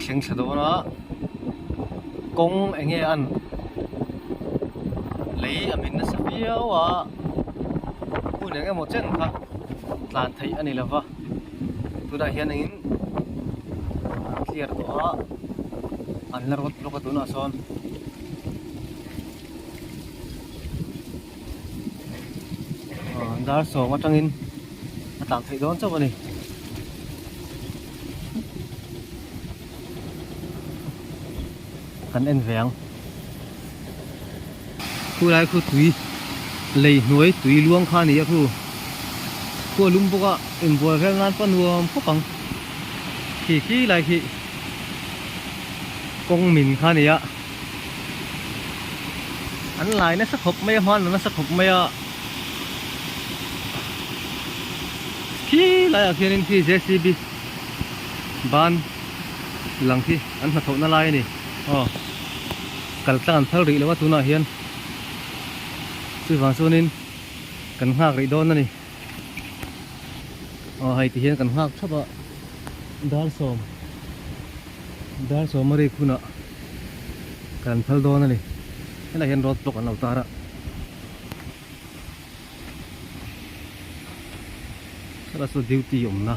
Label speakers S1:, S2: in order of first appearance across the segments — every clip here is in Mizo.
S1: thlengthla dawn a kawng eng nge an lei a min nasa viau a hun eng emaw chen kha tlan theih a ni lo va tunah hian in an clear tawh a an la rawt bawk a tunah sawn. dar sawm atangin a tlan theih dawn chauh a ni kan en ve ang khu lai khu tui lei hnuai tui luang kha ni a khu khu a lum bawk a in buai vel nan pawh a nuam khawp ang khi khi lai khi kawng min kha ni a An lai nasa khawp mai a hman lo nasa khawp mai a khi lai ah khian in khi jcb ban lang khi an hna thawh na lai a ni aw kal tlang an phal rih lo a tunah hian chuvang chuan in kan nghak rih dawn a ni. Aw hei ti hian kan nghak thap a dar sawm dar sawm a rek hunah kan phal dawn a ni helai hian road block an lo tar a hela saw duty awmna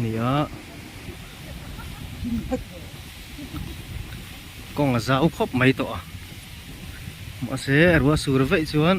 S1: ni a kawng a zau khawp mai tawh a mahse a ruah sur veih chuan.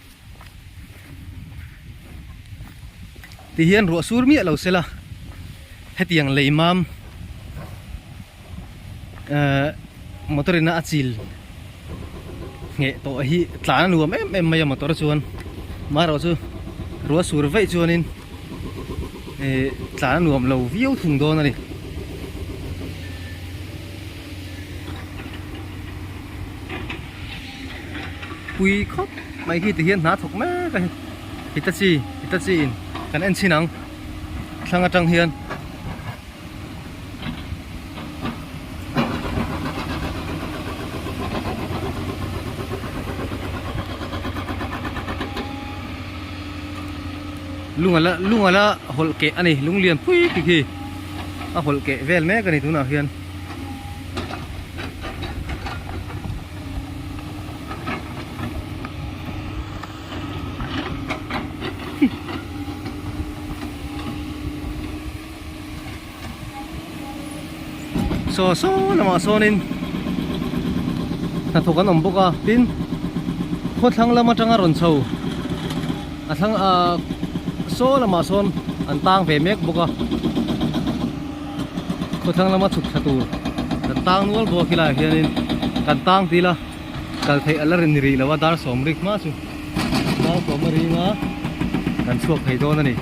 S1: ti hian ruah sur miah lo sela hetiang lei mam ehh motor ina a chil ngheh tawh hi tlan a nuam em em mai a motor chuan mahro chu ruah sur veih chuanin ehh tlan a nuam lo viau thung dawn a ni. pui khawp mai hi tihian hna thawk mek a ni hitachi hitachi in kan en chhin ang thlang atang hian lung ala lung ala hawlh keh a ni lung lian pui tak hi a hawlh keh vel mek a ni tunah hian. saw saw lamah sawnin hnathawk an awm bawk a tin khawthlang lam atanga rawn chho a thlang ahh saw lamah sawn an tang ve mek bawk a. Khawthlang lama chhuk thla tur kan tang nual bawk hi laiah hianin kan tang ti ila kal theih a la rin rih lo a dar sawm rik hma chu dar sawma ringa kan chhuak thei dawn a ni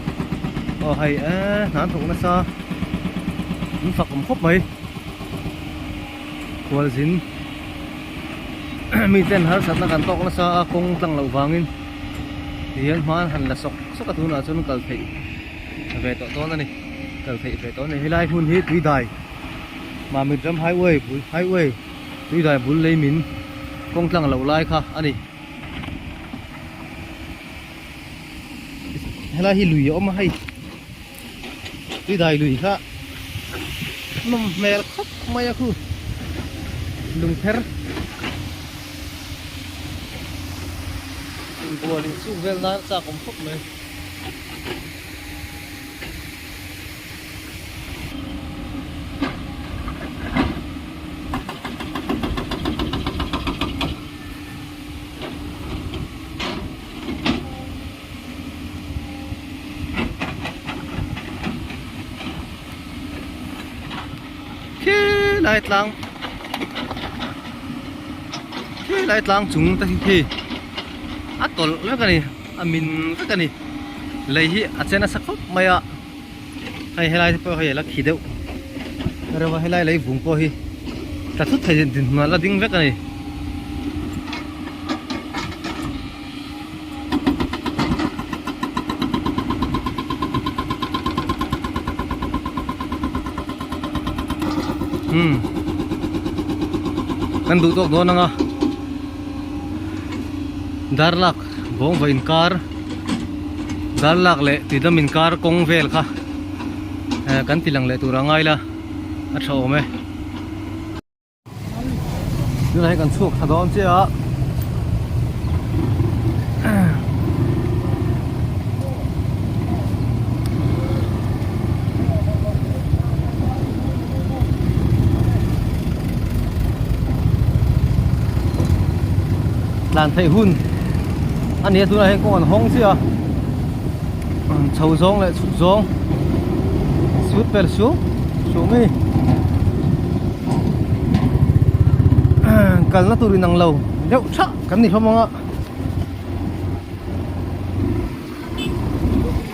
S1: aw hei e hnan thawk nasa in fak awm khawp mai khualzin mi ten harsatna kan tawk nasa a kawng tlang loh vangin hian hman han la sawk sawk a tunah chuan kal theih ve tawh dawn a ni kal theih ve tawh a ni helai hmun hi tuidai mamutram highway bul highway tuidai bul leimin kawng tlang loh lai kha a ni helai hi lui a awm a hei tuidai lui kha nawm hmel khawp mai a khu lung pher in bualin chung vel nan a chak awm khawp mai lai tlang khilai tlang chung te hi khi a tawlh mek a ni. A min vek a ni. Lei hi a che nasa khawp mai a. Hei helai te pawh hei a la khi deuh. Reuva helai lei vung pawh hi tla thut thei din hnu a la ding vek a ni. Hmm. Kan duh tawk dawn ang a. Darlak. bawngva inkar zârlâk leh tidam inkar kawng vêl kha eh kan tilang leh tûrah a ngai la a ṭha âwm e tunah hi kan chhuak ṭha dâwn chiah a tlan theih hun a nia tunah hian kawng an hawng chiah a chho zawng leh chhuk zawng suitber suh suh mai kalna tur inang lo deuh thah kan ni hlawm ang a.